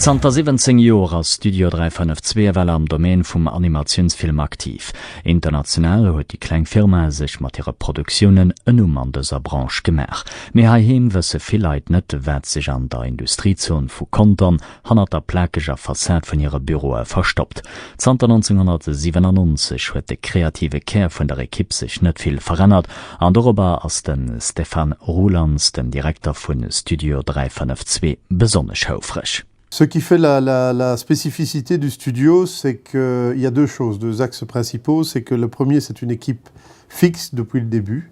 Zanter 17 Joer ass Studio 352 ewell am Domaine vum Animatiounsfilm aktiv. International huet déi kleng Firma sech mat hire Produktiounen en Numm an dëser Branche gemaach. Mee heiheem wësse vill Leit net, wat sech an der Industriezon vu Contern, hannert der plakeger Fassad vun hire Büroe verstoppt. Zanter 1997 huet de kreative Kär vun der Ekipp sech net vill verännert an dorobber ass de Stéphane Roulands, den Direkter vu Studio 352, besonnesch houfreg. Ce qui fait la la la spécificité du studio, c'est que il y a deux choses, deux axes principaux, c'est que le premier, c'est une équipe fixe depuis le début,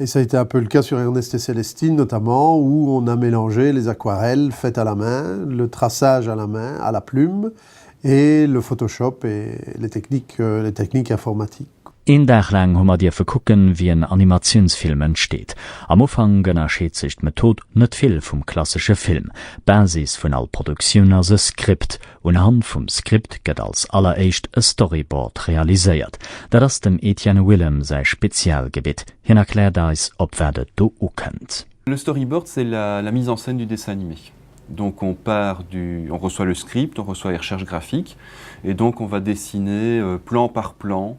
Et s'est un peu le cas sur Ernest et Célestine notamment où on a mélangé les aquarelles faites à la main, le traçage à la main, à la plume, et le photoshop et les techniques, les techniques informatiques. Een Dag laang hu mer dierfe kucken, wéi en Animatiounsfilm entsteet. Am Ufank ënnerscheet sech d'Method net vill vum klassesche Film. D'Basis vun all Produktioun ass e Skript, Unhand vum Script gëtt als alleréischt e Storyboard realiséiert. Dat ass dem Etienne Willem säi Spezialgebitt. Hien erkläert eis, op wat et do ukënnt. Le storyboard c'est la la mise en scène du dessin animé donc on part du on reçoit le script on reçoit les recherches graphiques et donc on va dessiner plan par plan.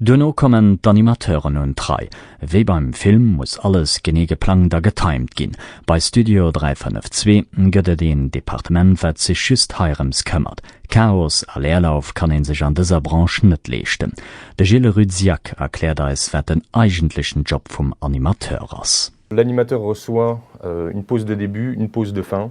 Duerno kommen d'Animateuren un d'Rei. Wéi beim Film muss alles genee geplangt a getimed ginn. Bei Studio 352 gëtt et een Departement, wat sech just heirëms këmmert. Chaos a Leerlauf kann ee sech an dëser Branche net leeschten. De Gilles Rudziak erkläert eis, wat den eigentlechen Job vum Animateur ass. L'animateur reçoit une pause de début, une pause de fin.